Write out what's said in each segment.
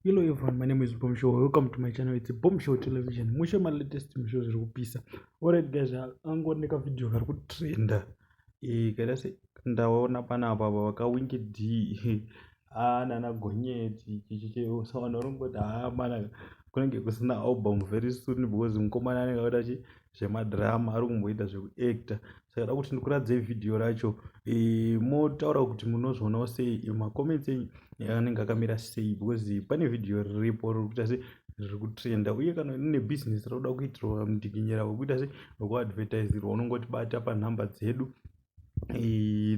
Hello everyone, my name is Boom Show. Welcome to my channel. It's a Boom Show Television. Mushe my latest Boom Show zviri kupisa. Alright guys, angori neka video kari kutrenda. Eh, kada se ndaona pana apa apa vakawinki D. Ah, nana gonyeti chichiche usaona rongo da ah, mana kunenge kusina album very soon because mkomana anenge akaita chi zvemadrama ari kumboita zvekuacta saka da kuti ndikuradzei vhidhiyo racho e, motaura kuti munozvionawo sei e, macomments enyu anenge akamira sei because pane vhidhiyo riripo riri kuita se riri kutrenda uye kana rine bhizinesi rauda kuitirwa mudikinyira wekuita se wekuadvertisirwa unongotibata panhamba dzedu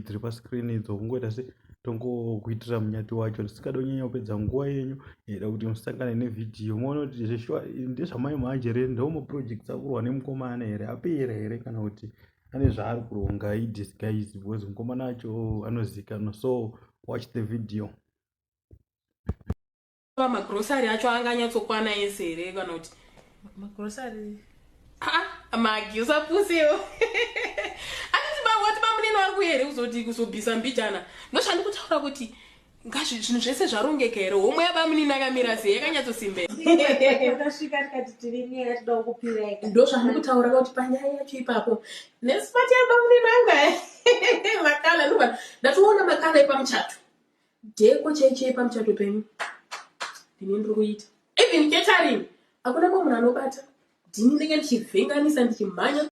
dziri pascreen idzo kungoita se tongokuitira munyati wacho tisingade kunyanya kupedza nguva yenyu ida kuti musangane nevhidhiyo moona kuti zveshuwa ndezvamai manje here ndo maprojects akurwa nemukomana here apera here kana kuti ane zvaari kuronga idisguise because mukomana wacho anozikanwa so watch the video Baba magrocery acho anga anyatsokwana ese here kana kuti magrocery haa magi usapusewo aniti bawati bamunini wari kuya here kuzoti kuzobvisa mbijana ndoshandi kutaura kuti ngazvi zvinhu zvese zvarongeka here homwe yabamunini akamira sei yakanyatsosimbea tasvika tikati tiri nyaya yatidawo kupireka ndo zvandiri kutaura kuti panyaya yacho ipapo nesipati yabamunini anga makala ndobva ndatoona makala epamuchato Deko chai chai pamuchato penyu ndine ndiri kuita even catering hakuna mumwe munhu anobata ndini ndenge ndichivhenganisa ndichimhanya